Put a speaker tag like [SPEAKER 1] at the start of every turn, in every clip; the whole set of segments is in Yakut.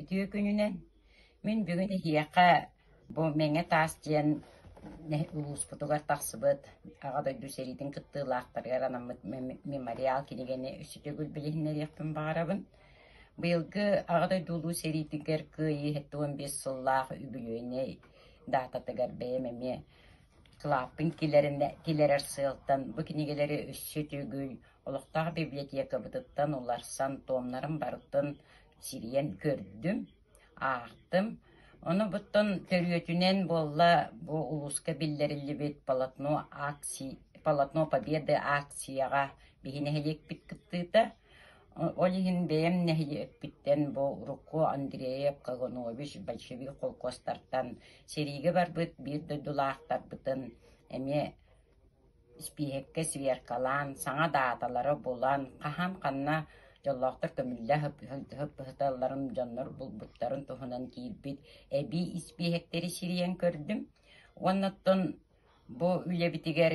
[SPEAKER 1] Үтүө күнүнэн! Мин бүгүн эһиэхэ бу Мэҥэ таас диэн улууспутугар тахсыбыт Аҕа дойду сэриитин кыттыылаахтарыгар анаммыт мемориал кинигэни өссө төгүл билиһиннэриэхпин баҕарабын. Быйылгы Аҕа дойду Улуу сэриитигэр кыайыы уон биэс сыллаах үбүлүөйүнэй даататыгар бэйэм эмиэ кылааппын киллэрэн киллэрэр сыалтан бу кинигэлэри өссө төгүл Олохтоох библиотекабытыттан уларсан туомнарым барытын сирийэн көрдүм, аахтым. Ону буттан төрүөтүнэн буолла бу улууска биллэриллибит полотно акций полотно победы акцияҕа биһи нэһилиэкпит кыттыыта. Ол иһин бэйэм нэһилиэкпиттэн бу урукку Андреев Каганович большевик холкуостартан сэриигэ барбыт биир дойдулаахтарбытын эмиэ Испииһэккэ сверкалаан, саҥа дааталары булан, хаһан ханна дьоллоохтор көмүллэ сыппыһыталларын дьоннор булбуттарын туһунан киирбит эбии испииһэктэри сирийэн көрдүм уонна оттон бу үлэбитигэр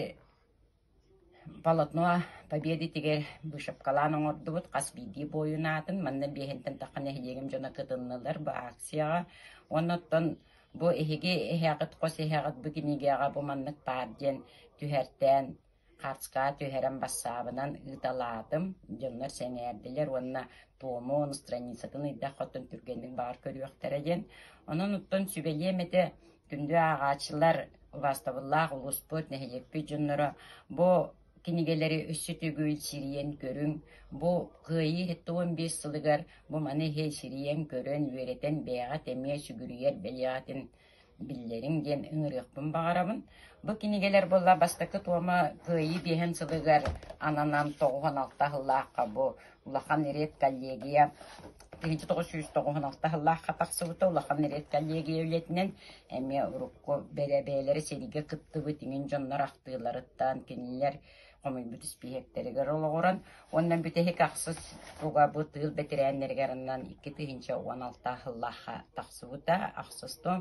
[SPEAKER 1] полотно победитигэр вышивкалаан оҥордубут, хас биирдии буойун аатын. Манна биэһинтэн тахха нэһилиэгим дьоно кытыннылар бу акцияҕа. Уонна оттон Бу эһиги эһиэхит хос эһиэҕит бу кинигэҕэ бу маннык баар диэн түһэртээн хартскаҕа түһэрэн бассаабынан ыыталаатым. Дьоннор сэҥээрдилэр уонна Туому страницатын ыйдах хотон түргэнник баар көрүөхтэрэ диэн. Онон оттон сүбэлиэм этэ күндү ааҕааччылар, убаастабыллаах улууспут, нэһилиэкпит дьонноро бу Кинигэлэри өссө төгүл сирийэн көрүҥ, бу Кыайыы сэттэ уон биэс сылыгар бу маны иһи сирийэн көрөн, үөрэтэн бэйэҕит эмиэ сүгүрүйэр бэлиэҕитин биллэриҥ диэн ыҥырыахпын баҕарабын. Бу кинигэлэр буолла бастакы туома Кыайыы биэһин сылыгар ананан тоҕуһун алта аһыллаахха бу улахан редколлегия Ити тоҕус сүүс тоҕуһун алта сыллаахха тахсыбыта улахан эрэт коллегия үлэтинэн эмиэ урукку бэрэбээлэри сэргэ кыттыбыт иҥин дьоннор ахтыыларыттан кинилэр хомуйбут испииһэктэригэр олоҕуран уонна бүтэһик ахсыс угабыт ыыл бэтэрээннэригэр аннан икки тыһыынча уон алтаа сыллаахха тахсыбыта ахсыс том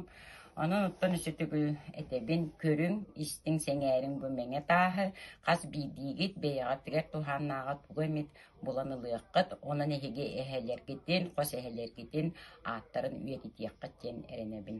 [SPEAKER 1] онон оттон үсүтүгүл этэбин көрүҥ истиҥ сэҥээриҥ бу мэҥэ тааһы хас биирдиигит бэйэҕитигэр туһааннааҕа туга эмит булан ылыаххыт, онон эһиги эһэлэргитин, хос эһэлэргитин ааттарын үйэтитиэххит диэн эрэнэбин